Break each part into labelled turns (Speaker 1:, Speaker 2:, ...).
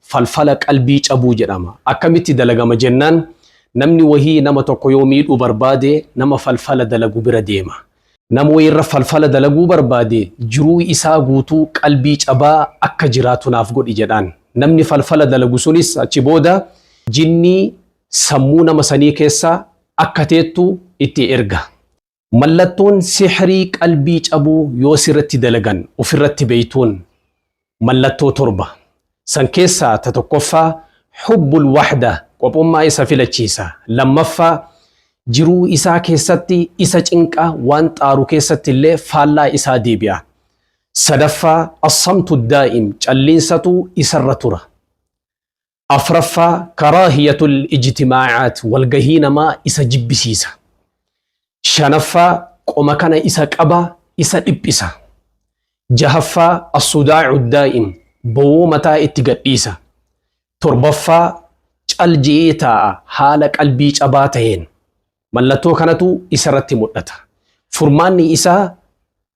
Speaker 1: falfala qalbii cabuu jedhama. Akkamitti dalagama jennaan namni wahii nama tokko yoo miidhuu barbaade nama falfala dalagu bira deema. Nama wahii irra falfala dalaguu barbaade jiruu isaa guutuu qalbii cabaa akka jiraatu naaf godhi jedhaan. Namni falfala dalagu sunis achi booda jinnii sammuu nama sanii keessa akka teettu itti erga. Mallattoon sihrii qalbii cabuu yoo sirratti dalagan ofirratti beeytuun mallattoo torba. San keessaa ta tokkoffaa hubbul wahda qophummaa isa filachiisa. Lammaffaa jiruu isaa keessatti isa cinqa waan xaaru keessatti illee faallaa isaa deebi'a. Sadaffaa assamtu daa'im calliinsatu isarra tura. Afraffaa, karaahiyatul ijtimaacaat, walgahii namaa isa jibbisiisa. Shanaffaa, qoma kana isa qaba, isa dhiphisa. Jahaffaa, assudaacu daa'im, bowoo mataa itti gadhiisa. Torbaffaa, cal je'ee taa'a haala qalbii cabaa taheen. Mallattoo kanatu isarratti mudhata. Furmaanni isaa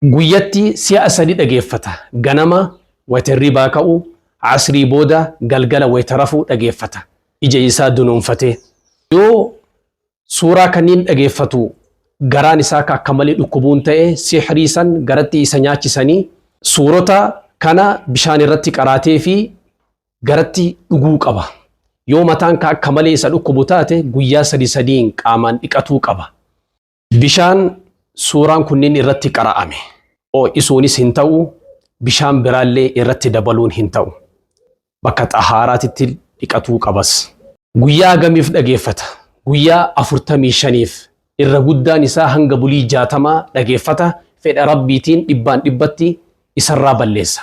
Speaker 1: Guyyatti si'a sadi dhageeffata. Ganama wayta hirribaa ka'u, Asrii booda, galgala wayta rafu dhageeffata. Ija isaa dunuunfatee. Yoo suuraa kanniin dhageeffatu garaan isaa ka akka malee dhukkubuun ta'e, sihrii san garatti isa nyaachisanii, suurota kana bishaan irratti qaraateefii garatti dhuguu qaba. Yoo mataan ka akka malee isa dhukkubu taate, guyyaa sadi sadiin qaamaan dhiqatuu qaba. Bishaan suuraan kunniin irratti qara'ame oo'isuunis hin ta'u, bishaan biraallee irratti dabaluun hin ta'u. Bakka xahaaraatitti dhiqatuu qabas. Guyyaa hagamiif dhageeffata? Guyyaa afurtamii shaniif. Irra guddaan isaa hanga bulii jaatamaa dhageeffata, fedha Rabbiitiin dhibbaan dhibbatti isarraa balleessa.